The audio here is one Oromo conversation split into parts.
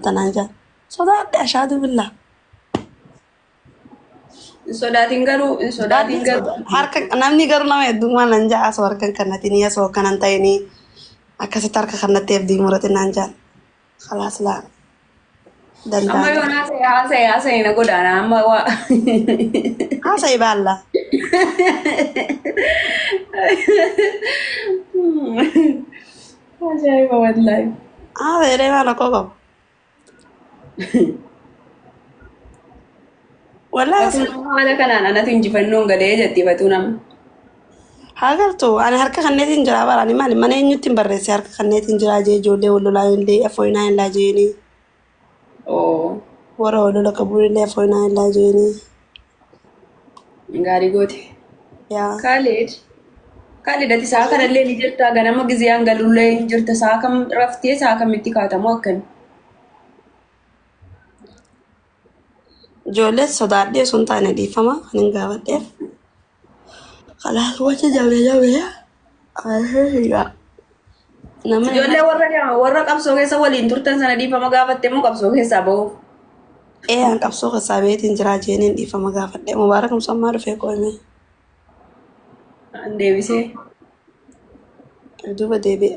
tanaan jaa sodaadhe ashaaduu billaa Hin sodaatin garuu hin sodaatin garuu. harka namni garuu nama heddummaa nan jaa asoo harkan kannatiin asoo akkanan ta'inii akkasitti harka kannatti abdii muratin naan jaan khalaas laa Amma danda'a yoo haasa'e haasa'e haasa'e na godaana amma waa. haasa'e baalla Ajaa'iba wallaahi. Haa ta'ee waan akkoo qabu. Wallaahi Fatuu nama haala kanaan anatu injifannoon galee jetti fatuu nama. haa galtu ani harka kanneetiin jira bara ani maali mana eenyutti hin barreesse harka kanneetiin jira jee ijoollee wal lolaa hin lee afooyinaa hin laa jeenii. Oo. Warra walola qabuunillee afoinaa hin laa jeenii. Gaarii goote. Yaa. Kaalid. Kaalid ati sa'a kanallee ni jirta ganama giziyaan galullee hin jirta sa'a kam raftee sa'a kamitti kaatamoo akkami. Ijoollee sodaadhee osoo hin taane dhiifama kan hin gaafadheef. Kalaas wacha jabee jabee arshee sigaa nama Ijoollee warra warra qabsoo keessa waliin turtan sana dhiifama gaafatte moo qabsoo keessaa bahu? ee an qabsoo keessaa beetiin jiraa jeeniin dhiifama gaafadhe mubaarak musammaa dhufee qoyme An deebisee. duuba deebi'e.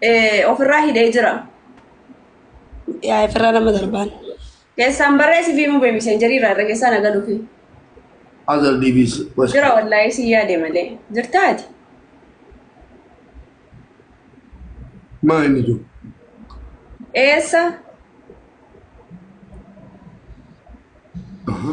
eh, ofirraa hidhee jira. Yaa ifirraa nama darbaan. Keessaan barreessi fi mubee miseenjarii irraa irra keessaan agaluufi. Azal DBs. West. Jira wallaahii si yaade malee. Jirtaa ati? Maa inni jiru? Eessa? Aha.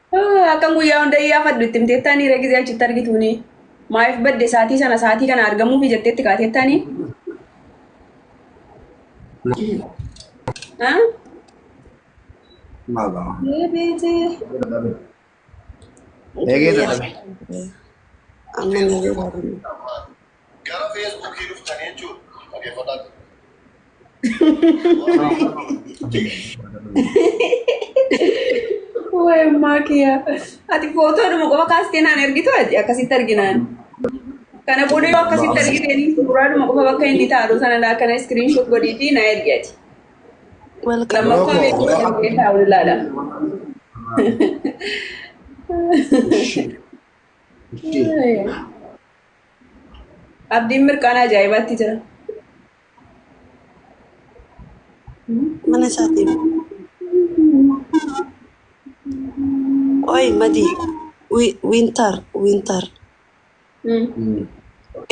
Akkan guyyaa hunda iyyaafadhu itti himteettaanii reegizee achitti argituuni. Maayif badde saatii sana saatii kana argamuufi jetteetti kaateettaanii. Eegee dadhabe. Amma ni jedhamu. Gara feesbuukii dhuftanii jechuun dhageeffataa jiru. Waa'ee ammaa kiyyaa. Ati footoodhuma qofa kaastee naan ergitu ati akkasitti arginaan. Kana booda yoo akkasitti argiteen suuraadhuma qofa bakka inni taa'u sana laa kana iskiriinshot godhiitii na ergi ati. Welcome. Lammaffaa Rogo, beekumsa rogo. kan ta'e taa'u ilaala. Ishii. Ishii. Abdiin mirqaana ajaa'ibaatti jira. mana isaatiin. Qoy madii wi- wintar wintar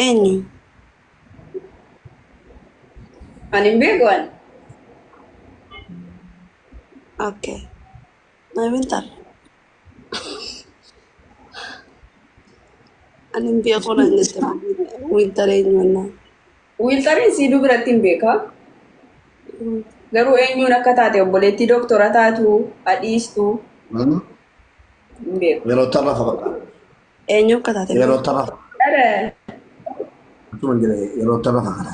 eenyu Ani hin beeku ani. okay. Amantaan. Ani hin beeku nan jette wiiltaree eenyuunnaa. Wiiltareen siiduu biratti hin beeka. Garuu eenyuun akka taate obboleettii dooktora taatu adhiistu Hmm? hin beeku. Yeroo tarra fakkaata. Eenyu akka taate Yeroo tarra Dhala. akkuma jira yeroo tarra fakkaata.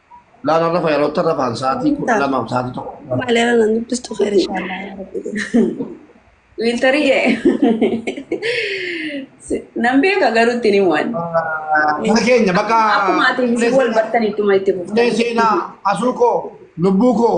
Laala rafa yeroo tan rafaan sa'aatii kudha lamaaf sa'aatii tokko. Maaleera nan dubbistu kheer inshaallah yaa rabbi. Wiiltarii kee. Nan beeka garuu ittiin hin waan. Mana keenya bakka Akkuma ati wal bartan ittuma itti fufte. Ulee seenaa asuu koo lubbuu koo